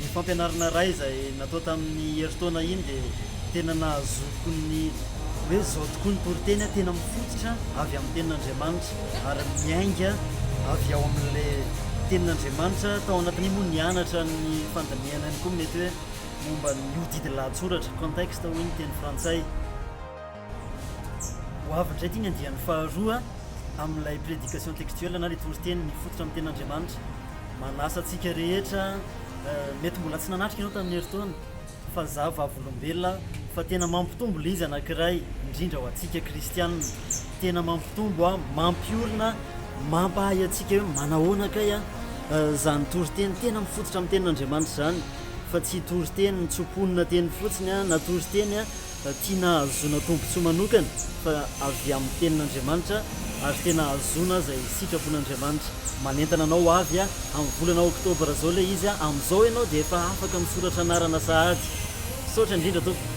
Iny fampianarana iray izay natao tamin'ny herintaona iny dia tena nahazoako ny hoe izao tokoa ny toriteny, tena mifototra avy amin'ny tenin'Andriamanitra ary miainga avy ao amin'ilay tenin'Andriamanitra. Tao anatin'iny moa nianatra ny fandinihana ihany koa mety hoe momba ny hodidy lahatsoratra, contexte hoy ny teny frantsay. Ho avy indray ity ny andiany faharoa amin'ilay prédication textuelle na ilay toriteny mifototra amin'ny tenin'Andriamanitra. Manasa antsika rehetra, mety mbola tsy nanatrika ianao tamin'ny herintaona, fa izaho vavolombelona fa tena mampitombo ilay izy anankiray indrindra ho antsika kristiana. Tena mampitombo aho, mampiorina, mampahay antsika hoe manahoana kay izany toriteny tena mifototra amin'ny tenin'Andriamanitra izany fa tsy toriteny tso-ponona teny fotsiny na toriteny Tiana hahazoana tombontsoa manokana fa avy amin'ny Tenin'Andriamanitra ary tena hahazoana izay sitrapon'Andriamanitra. Manentana anao ho avy amin'ny volana Oktobra izao ilay izy, amin'izao ianao dia efa afaka misoratra anarana sahady. Misaotra indrindra tompoko.